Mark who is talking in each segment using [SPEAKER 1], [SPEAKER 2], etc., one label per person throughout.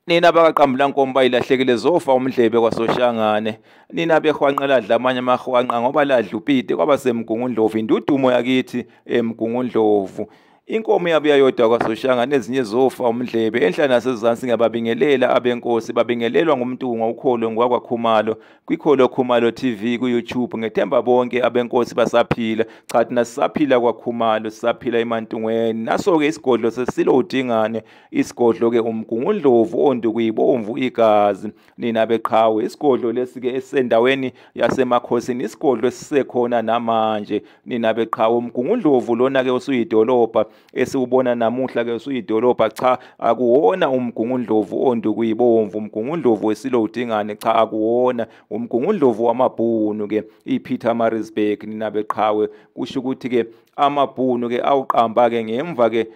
[SPEAKER 1] nina abakaqambulankomo bayilahlekile zofa umdlebe kwasoshangane nina behwanqela adla amanye amahwanqa ngoba ladla upite kwaba semgungundlovu indudumo yakithi emgungundlovu inkomo yabo yayodwa kwasoshangane ezinye zofa umdlebe enhla nasezansi ngiyababingelela abenkosi babingelelwa ngumtunga ukholo ngwakwakhumalo kwikholo khumalo tv kuyoutube ngethemba bonke abenkosi basaphila cha thina sisaphila kwakhumalo sisaphila emantungweni naso-ke isigodlo sesilo udingane isigodlo-ke umgungundlovu ondukuyibomvu igazi nina beqhawe isigodlo lesi-ke esisendaweni yasemakhosini isigodlo esisekhona namanje nina beqhawe umgungundlovu lona-ke usuyidolobha esiwubona namuhla ke usuyidolobha cha akuwona umgungundlovu ondukuyibomvu umgungundlovu wesilo udingane cha akuwona umgungundlovu wamabhunu ke iPeter Marisburg nina beqhawe kusho ukuthi ke amabhunu ke awuqamba ke ngemva ke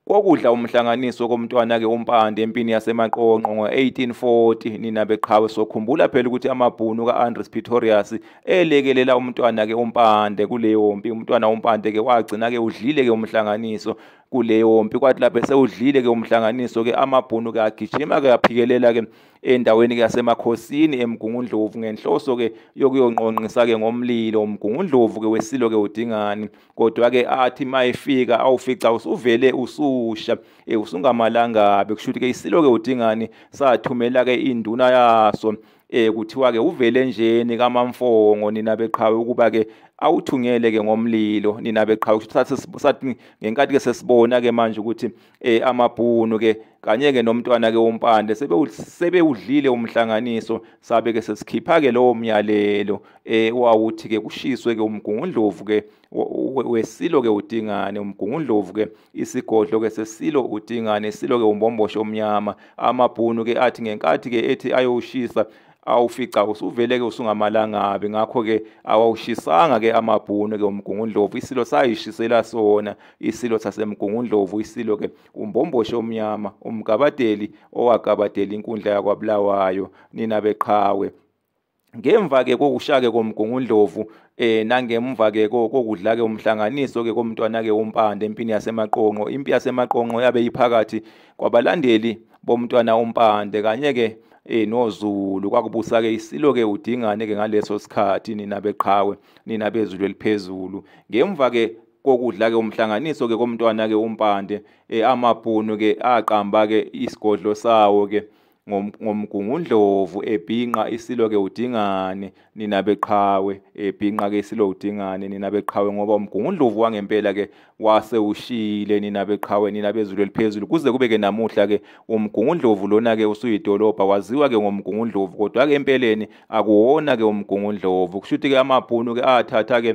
[SPEAKER 1] kokudla umhlanganiso komntwana-ke umpande empini yasemaqonqo ngo-1840 nina beqhawe sokhumbula phela ukuthi amabhunu ka-andres pretorius elekelela umntwana ke umpande kuleyo mpi umntwana umpande ke wagcina ke udlile ke umhlanganiso kuleyo mpi kwathi lapho esewudlile ke umhlanganiso ke amabhunu ke agijima ke aphikelela ke endaweni ke yasemakhosini emgungundlovu ngenhloso ke yokuyonqonqisa ke ngomlilo umgungundlovu ke wesilo ke udingani kodwa ke athi mayifika awufica usuvele ususha eh usungamalangabe kushuthi ke isilo ke udingani sathumela ke induna yaso eh kuthiwa ke uvele njeni kamamfongo nina beqhawe ukuba ke awuthungele ke ngomlilo nina beqhawe kusathe sathi ngenkathi ke sesibona ke manje ukuthi eh amabhunu ke kanye ke nomntwana ke wompande sebe sebewudlile umhlanganiso sabe ke sesikhipha ke lowo myalelo eh wawuthi ke kushiswe ke umgungundlovu ke wesilo ke uDingane umgungundlovu ke isigodlo ke sesilo uDingane isilo ke umbombosho omnyama amabhunu ke athi ngenkathi ke ethi ayoshisa awufica usuvele ke usungamalangabi ngakho ke awawushisanga ke amabhunu ke umgungundlovu isilo sayishisela sona isilo sasemgungundlovu isilo ke umbomboshe omnyama umgabadeli owagabadela inkundla yakwabulawayo nina beqhawe ngemva ke kokushake komgungundlovu eh nangemva ke kokudla ke umhlanganiso ke komntwana ke umpande empini yasemaqonqo impi yasemaqonqo yabe iphakathi kwabalandeli bomntwana umpande kanye ke eh noZulu kwakubusa ke isilo ke udingane ke ngaleso sikhathi nina beqhawe nina bezulu eliphezulu ngemva ke kokudla ke umhlanganiso ke komntwana ke umpande eh amabhunu ke aqamba ke isigodlo sawo ke ngomgungundlovu ebhinqa isilo ke udingane nina beqhawe ebhinqa ke isilo udingane nina beqhawe ngoba umgungundlovu wangempela ke wase ushile nina beqhawe nina bezulu eliphezulu kuze kube ke namuhla ke umgungundlovu lona ke usuyidolobha waziwa ke ngomgungundlovu kodwa ke empeleni akuwona ke umgungundlovu kushuthi ke amabhunu ke athatha ke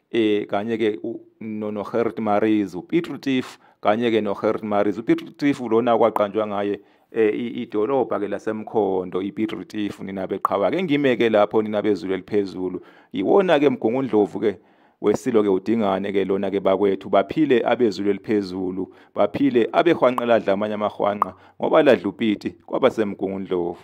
[SPEAKER 1] eh kanye ke no no Gert Maries uPiet Retief kanye ke no Gert Maries uPiet Retief lona kwaqanjwa ngaye eh idolobha ke lasemkhondo iPiet Retief nina beqhawa ke ngimeke lapho nina bezulu eliphezulu yiwona ke mgungundlovu ke wesilo ke udingane ke lona ke bakwethu baphile abezulu eliphezulu baphile abehwanqeladla amanye amahwanqa ngoba ladlupiti kwabasemgungundlovu